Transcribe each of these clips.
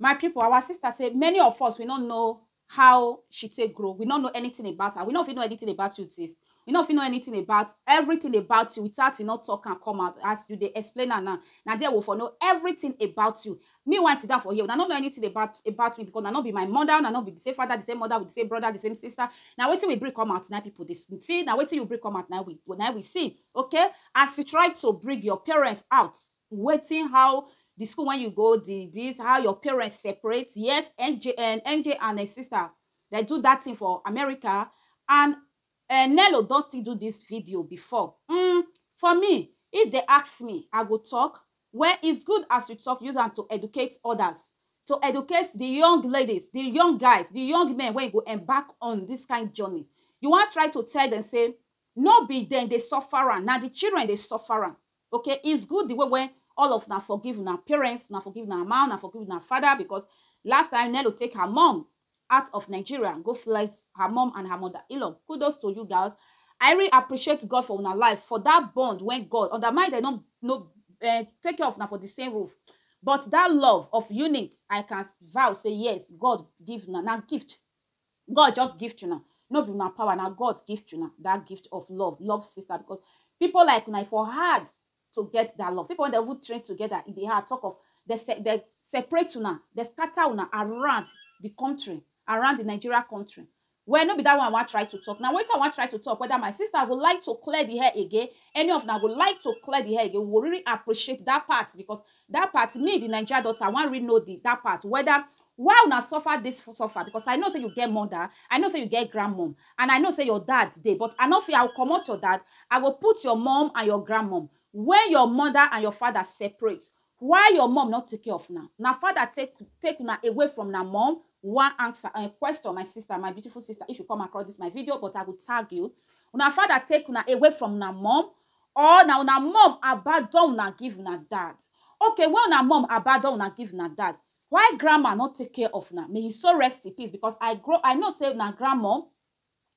My pipu, our sister sey many of us we no know how she take grow, we no know anything about her, we no fit know anything about you sis, we no fit know anything about everything about you without you no talk am come out as you dey explain am now, na there we for know everything about you. Me wey I sit down for here, una no know anything about about me because una no be my mother, una no be the same father, the same mother, the same brother, the same sister, na wetin we bring come out na im pipu dey see, na wetin you bring come out na im we na im we see okay. As you try to bring your parents out wetin how the school when you go the this how your parents separate yes nj uh, nj and her sister they do that thing for america and uh, nello don still do this video before mm, for me if they ask me i go talk well it's good as you talk use am to educate others to educate the young ladies the young guys the young men wey go embark on this kind journey you wan try to tell them say no be dem dey suffer am na the children dey suffer am Okay is good the way wey all of una forgive una parents, una forgive una mama, una forgive una father because last time Nello take her mom out of Nigeria go flex her mom and her mother Elon kudos to you girls I really appreciate God for una life for that bond when God under mind dem no no eh, take care of una for the same roof but that love of unit I can vow say yes God give una na gift God just gift una. No be una power, na God gift una that gift of love. Love sister because people like una e for hard to get that love. People when they even train together, e dey hard. Talk of they, se- they separate una, they scatter una around the country, around the Nigeria country. Well, no be that one I wan try to talk. Now, wetin I wan try to talk, whether my sister go like to clear the hair again, any of una go like to clear the hair again, we go really appreciate that part because that part, me, the Nigeria daughter, I wan really know the, that part, whether Why una suffer dis suffer because I know say you get mother, I know say you get grandmum and I know say your dad dey but I no fit, I go comot your dad, I go put your mum and your grandmum wen your mother and your father separate why your mum no take care of una? Una father take take una away from una mum? One answer um question my sister, my beautiful sister if you come across dis my video but I go tag you una father take una away from una mum or na una mum abandon una give una dad? Okay wen una mum abandon una give una dad Why grandma no take care of una? May his soul rest in peace because I grow I know say na grandmom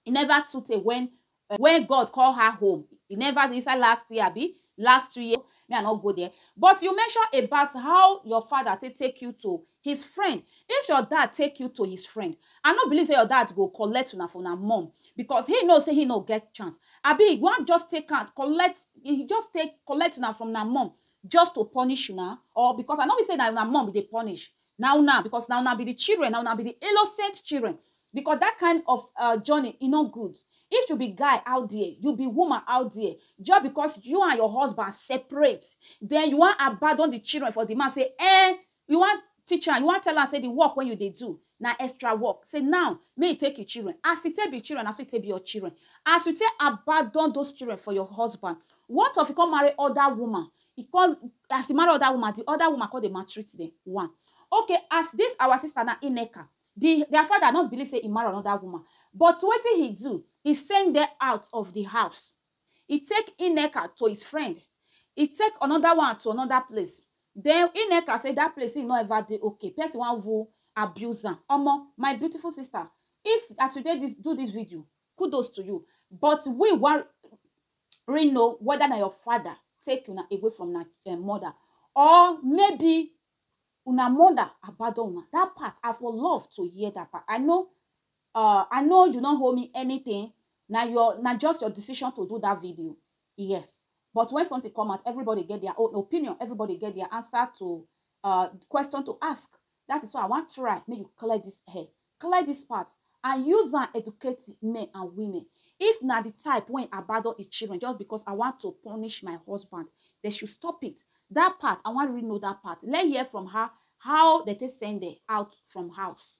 e never too tey when uh, when God call her home. E never inside last year abi last two years me I no go there. But you mention about how your father take take you to his friend. If your dad take you to his friend, I no believe say your dad go collect una for una mom because he know say he no get chance. Abi he wan just take am collect he just take collect una from una mom just to punish una? Or because I no be say na una mom be dey punish, na una because na una be the children, na una be the innocent children because that kind of um journey e no good. If you be guy out there, you be woman out there, just because you and your husband separate, then you wan abandon the children for the man say um You wan teach am, you wan tell am sey di work wey you dey do na extra work, sey now make you take im children, as e take be im children na so e take be your children, as you take abandon those children for your husband, what of you come marry oda woman, you come, as you marry oda woman, di oda woman come dey maltreat dem, one, okay as dis our sister now, Nneka, di dia father no believe sey e marry anoda woman, but wetin he do, he send dem out of di house. e take Ineka to his friend, e take another one to another place, then Ineka say that place him no ever dey okay, person wan even abuse am, omo my beautiful sister if as you take this do this video kudos to you but we wan really know whether na your father take una away from una um mother or maybe una mother abandon una, that part I for love to hear that part, I no Uh, I know you no owe me anything, na your na just your decision to do that video. Yes. But when something come out, everybody get their own opinion, everybody get their answer to uh question to ask. That is why I want try make you clear this hair, clear this part, and use and educate men and women. If na the type when abandon the children just because I want to punish my husband, they should stop it. That part, I want to really know that part. Let hear from her how they take send her out from house.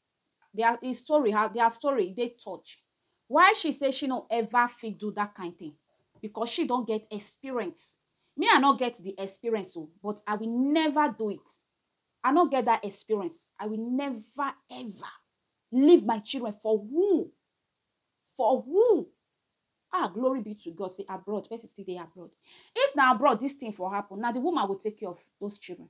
Dia e story her dia story e dey touch why she say she no ever fit do dat kain tin because she don get experience me I no get di experience o but I will never do it I no get dat experience I will never ever leave my children for who for who ah glory be to God say abroad person still dey abroad if na abroad dis tin for happen na di woman go take care of those children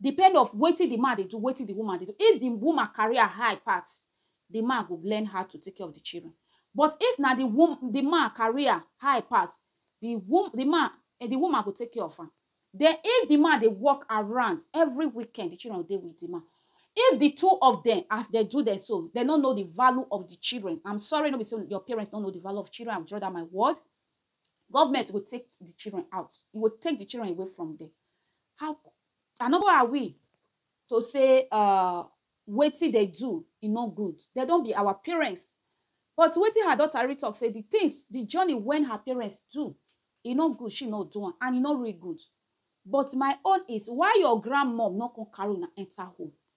depend of wetin di man dey do wetin di woman dey do if di woman career high pass di man go learn how to take care of di children but if na di wo di man career high pass di wo di man di woman go take care of am den if di man dey work around every weekend di children go dey with di man if di two of dem as dem do dem so dem no know di value of di children am sorry no be sey your parents no know di value of children I will draw dat my word Government go take the children out. E go take the children away from there. How and who are we to say uh, wetin they do e no good. They don be our parents. But wetin her daughter really talk say the things, the journey when her parents do, e no good, she no do am, and e no really good. But my own is why your grandmom no come carry una enter home.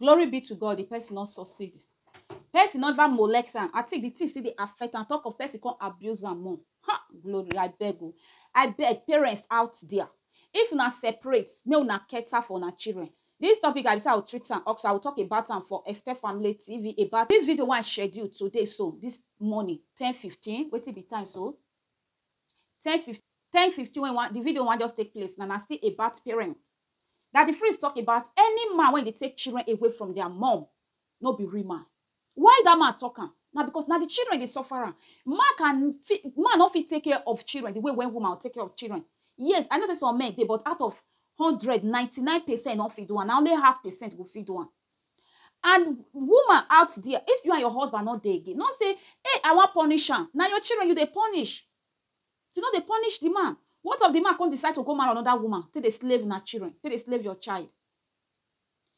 Glory be to God, the person no succeed. Person no even molest am. I think the thing still dey affect am. Talk of person come abuse am more. Ha! Glory, I beg o. I beg parents out there. If una separate, make una cater for una children. This topic, I be say I will treat am also. I will talk about am for Esther Family TV about this video wey I schedule today so, this morning, ten fifteen, wetin be time so? ten fif ten fifteen wey wan di video wan just take place na na still about parent. Daddy Freeze talk about any man wey dey take children away from dia mum no be real man. Why dat man talk am? Na because na di children dey suffer am. Man can fit man no fit take care of children di way wey woman go take care of children. Yes, I know sey some men dey but out of hundred, ninety nine percent no fit do am, na only half percent go fit do am. and woman out there if you and your husband no dey again no say hey i wan punish am na your children you dey punish you no dey punish the man what of the man come decide to go marry another woman take dey slave una children take dey slave your child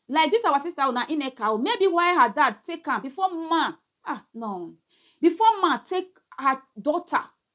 like this our sister na Nneka o maybe why her dad take am before man ah no before man take her daughter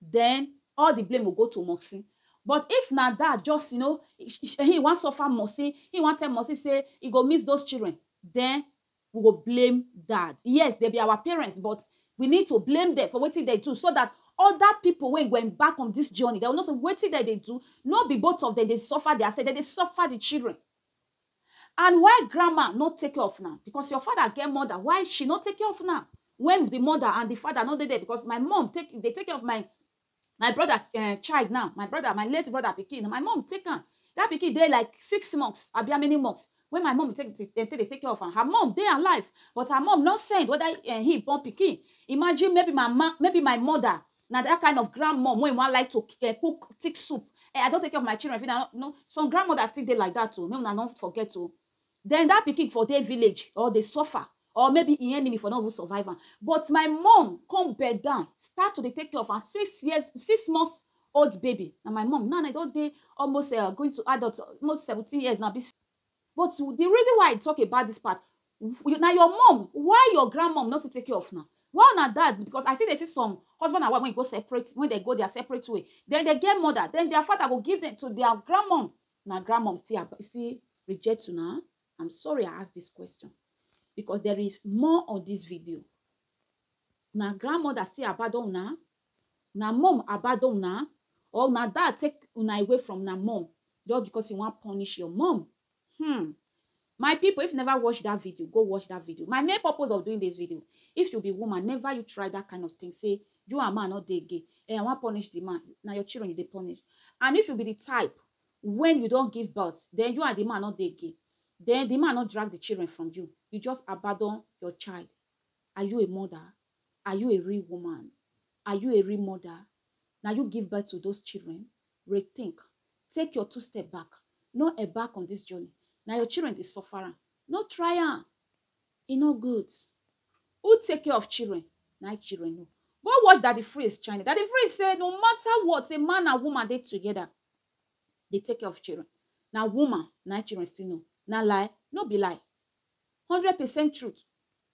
then all the blame go go to Moxie but if na dad just you know he wan suffer Moxie, he wan tell Moxie say he go miss those children then we go blame dad yes they be our parents but we need to blame them for wetin dem do so that other people wey go embark on this journey they will know say wetin dem dey do no be both of them dey suffer their self dem dey suffer the children And why grandma no take care of una because your father get mother why she no take care of una when the mother and the father no dey there because my mom take dey take care of my my brother uh, child now my brother my late brother pikin my mom take am that pikin dey like six months abi how many months when my mom take take dey take care of am her mom dey alive but her mom no send whether uh, he born pikin imagine maybe my ma maybe my mother Na that kind of grand mom wey wan like to cook thick soup um I don take care of my children finish I no some grand mother still dey like that oo make una no forget oo then that pikin for dey village or dey suffer or maybe him enemy for no even survive am but my mom come bed down start to dey take care of am six years six months old baby na my mom now e don dey almost um going to adult almost seventeen years now But the reason why I talk about this part, na your mom, why your grandmom no still take care of na? Why una dad, because I still dey see some husband and wife when e go separate, when they go their separate way, then they get mother, then their father go give them to their grandmom, na grandmom still still reject una? I'm sorry I ask this question because there is more on this video. Na grandmother still abandon una? Na mum abado una? Or una dad take una away from una mum just because e wan punish your mum? Hmmm. My people if you never watch that video, go watch that video. My main purpose of doing this video, if you be woman, never you try that kind of thing say you and man no dey again, eh, I wan punish the man. Na your children you dey punish. And if you be the type when you don give birth, then you and the man no dey again, then the man no drag the children from you, you just abado your child. Are you a mother? Are you a real woman? Are you a real mother? Na you give birth to those children? Rethink. Take your two step back. No embark on this journey. Na your children dey suffer am. No try am. E no good. Who take care of children? Na im children know. Go watch Daddy Freeze channel. Daddy Freeze say no matter what, say man and woman dey together, dey take care of children. Na woman na im children still know. Na lie? No be lie. hundred percent truth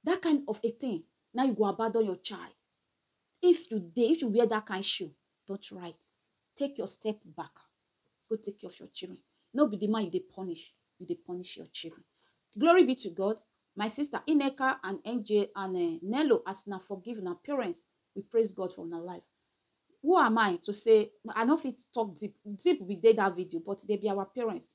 that kind of a thing na you go abandon your child if you dey if you wear that kind shoe don't write take your step back go take care of your children no be the man you dey punish you dey punish your children glory be to god my sister ineka and nj and uh, nello as una forgive una parents we praise god for una life who am i to say i no fit talk deep deep we dey that video but they be our parents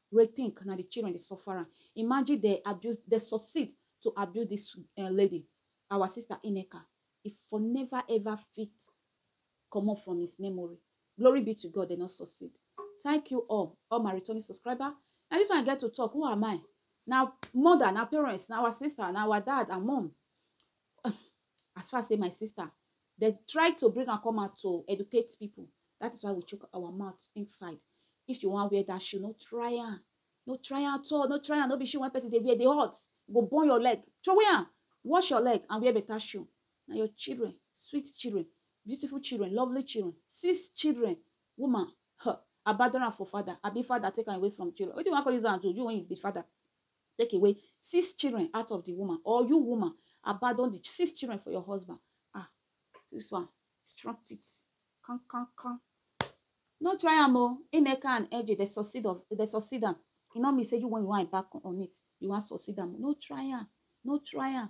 Re think na the children dey suffer am imagine dem abuse dem succeed to abuse this um lady our sister Ineka e for never ever fit comot from his memory glory be to God dem no succeed thank you all all my returning subscriber na this one I get to talk who am I na mother na parents na our sister na our dad and mum as far say my sister Dem try to bring am come out to educate people. That is why we chook our mouth inside. If you wan wear that shoe, no try am. No try am at all. No try am. No be shoe when person dey wear, dey hot. E go burn your leg. Throway am. Wash your leg and wear better shoe. Na your children, sweet children, beautiful children, lovely children, six children, woman, huh, abandon am for father. Abi father take am away from children. Wetin you wan come use am do? You when you be father. Take away six children out of the woman or you woman abandon the six children for your husband. Ah, this one, strong teeth. Kan, kan, kan. No try am o. Eneka and Eje, they succeed of, they succeed am. E no mean say you when you want embark on it, you want succeed am. No try am. No try am.